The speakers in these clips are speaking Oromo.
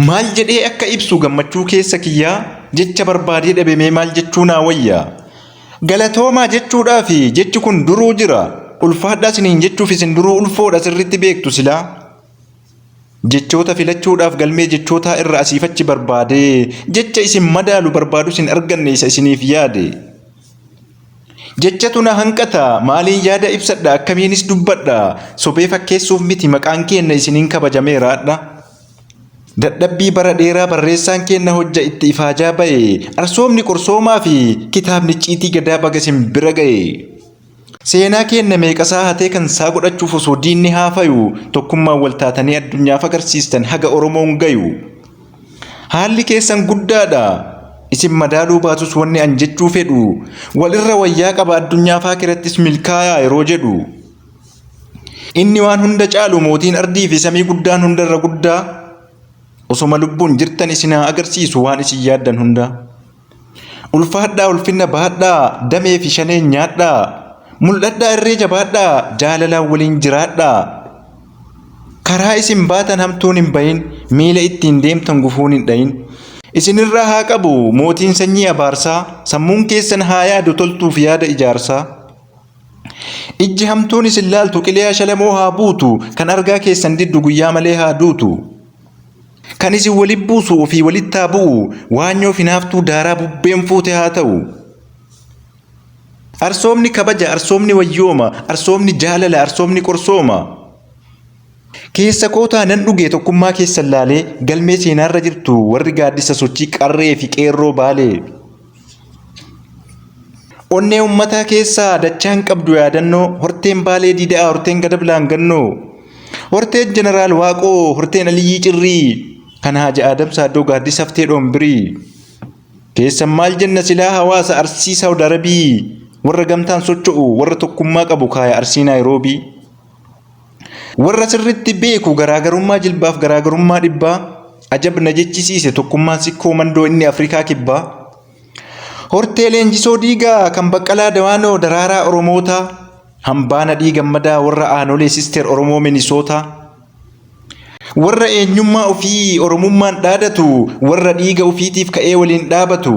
Maal jedhee akka ibsu gammachuu keessa kiyyaa jecha barbaadee dhabemee maal jechuu naa wayya. Galatoomaa jechuudhaa fi jechi kun duruu jira. Ulfaadhaa isiniin jechuuf isin duruu ulfoodha sirriitti beektu silaa. Jechoota filachuudhaaf galmee jechootaa irra asiif achi barbaadee jecha isin madaalu barbaadus hin arganne isa isiniif yaade. Jechatu na hanqata maaliin yaada ibsadha akkamiinis dubbadha sobee fakkeessuuf miti maqaan keenna isiniin kabajameeraadha. Dadhabbii bara dheeraa barreessaan keenna hojja itti ifaajaa baye arsoomni qorsoomaa fi kitaabni icciitii gadaa baga isin bira gaye. Seenaa keenna meeqasaa hatee kan saa godhachuuf osoo diinni haafayu tokkummaan wal taatanii addunyaaf agarsiistan haga Oromoon gayu. Haalli keessan guddaadha. Isin madaaluu baatus wanni an jechuu fedhu wal irra wayyaa qaba addunyaaf aakirattis milkaayaa yeroo jedhu. Inni waan hunda caalu mootiin ardii fi samii guddaan hunda irra guddaa. Osoma lubbuun jirtan isin haa agarsiisu waan isin yaaddan hunda. Ulfaadhaa ulfinna baadhaa damee fi shaneen nyaadhaa mul'adhaa irree jabaadhaa jaalalaan waliin jiraadhaa karaa isin baatan hamtuun hin bahin miila ittiin deemtan gufuun hin dhahin isinirraa haa qabu mootiin sanyii abaarsaa sammuun keessan haa yaadu toltuuf yaada ijaarsaa ijji hamtuun isin laaltu qiliyaa shalamoo haa buutu kan argaa keessan diddu guyyaa malee haa duutu. Kan isin walitti buusu ofii walitti haa bu'u. Waanyoo fi naaftuu daaraa bubbeen fuute haa ta'u. Arsoomni kabaja, arsoomni wayyooma, arsoomni jaalala, arsoomni qorsooma. Keessa kootaa nan dhugee tokkummaa keessan laalee galmee seenaarra jirtu warri gaaddisa sochii qarree fi qeerroo baalee. Onnee ummataa keessaa dachaan qabdu yaadannoo horteen baalee diida'aa horteen gadablaan gannoo horteen jeneraal waaqoo horteen aliyyii cirrii kan haaja aadam saaddoo gaaddis haftee dhoombirii keessan maal jenna silaa hawaasa arsii saawud arabii warra gamtaan socho'u warra tokkummaa qabu kaaya arsii naayiroobii. Warra sirritti beeku garaagarummaa jilbaaf garaagarummaa dhibbaa ajab na jechisiise tokkummaan sikkoo mandoo inni Afrikaa kibbaa. Hortee leenjisoo diigaa kan baqqalaa dawaanoo daraaraa Oromootaa hambaa nadhii gammadaa warra aanolee sister Oromoo Minisootaa. Warra eenyummaa ofii Oromummaan dhaadatu warra dhiiga ofiitiif ka'ee waliin dhaabatu.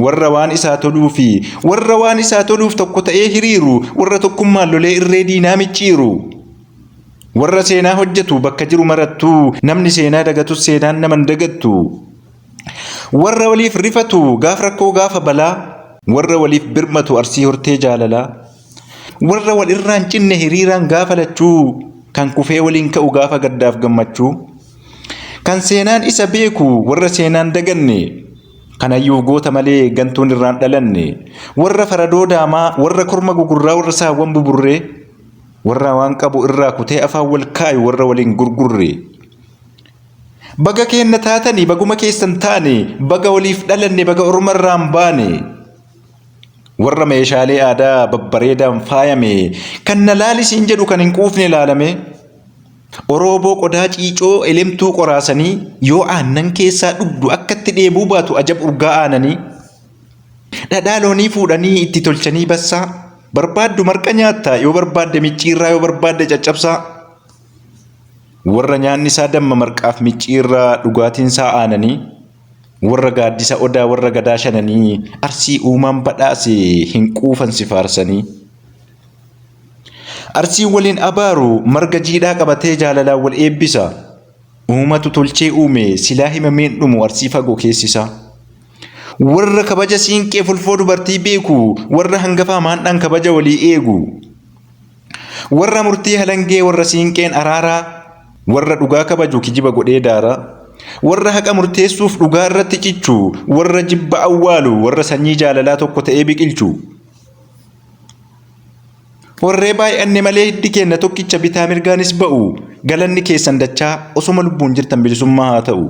Warra waan isaa toluu fi warra waan isaa toluuf tokko ta'ee hiriiru, warra tokkummaan lolee irree diinaa micciiru. Warra seenaa hojjetu bakka jiru marattuu, namni seenaa dagatus seenaan nama hin dagattu. Warra waliif rifatu gaaf rakkoo gaafa balaa, warra waliif birmatu arsii hortee jaalalaa. Warra wal irraan cinne hiriiraan gaafa lachuu, kan kufee waliin ka'u gaafa gaddaaf gammachuu. Kan seenaan isa beeku warra seenaan daganne, Kanayyuu goota malee gantuun irraa hin dhalanne. Warra faradoo daamaa, warra korma gugurraa, warra saawwan buburree, warra waan qabu irraa kutee afaan wal kaayu, warra wal hin gurgurre. Baga keenna taatanii, baguma keessan taane, baga waliif dhalanne, baga orma irraa hin baane. Warra meeshaalee aadaa babbareedaan faayame, kan na laali siin jedhu kan hin quufne laalame. Orooboo qodaa ciicoo elemtuu qoraasanii yoo aannan keessaa dhugdu akka itti dheebuu baatu ajab urgaa aananii dhadhaa loonii fuudhanii itti tolchanii bassaa barbaaddu marqa nyaattaa yoo barbaadde micciirraa yoo barbaadde caccabsaa warra nyaanni isaa damma marqaaf micciirraa dhugaatiin isaa aananii warra gaaddisa odaa warra gadaa shananii arsii uumaan badhaase hin quufan si faarsanii. Arsiin waliin abaaru marga jiidhaa qabatee jaalalaan wal eebbisa. Uumatu tolchee uume silaa himameen dhumu arsii fagoo keessisa. Warra kabaja siinqee fulfoo dubartii beeku warra hangafaa maandhaan kabaja walii eegu. Warra murtii halangee warra siinqeen araaraa warra dhugaa kabaju kijiba godhee daara. Warra haqa murteessuuf dhugaa irratti cichu warra jibba awwaalu warra sanyii jaalalaa tokko ta'ee biqilchu. Warree baay'anne malee hiddi keenna tokkicha bitaa mirgaanis ba'u galanni keessan dachaa osuma lubbuun jirtan bilisummaa haa ta'u.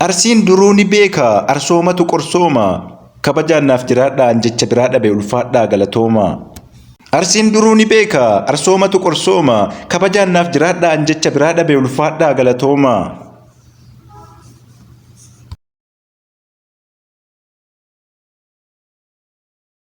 Arsiin duruu ni beeka arsoomatu qorsooma kabajaan naaf jiraadhaa an jecha biraa dhabe ulfaadhaa galatooma. Arsiin duruu ni beeka arsoomatu qorsooma kabajaan naaf jiraadhaa an jecha biraa dhabe ulfaadhaa galatooma.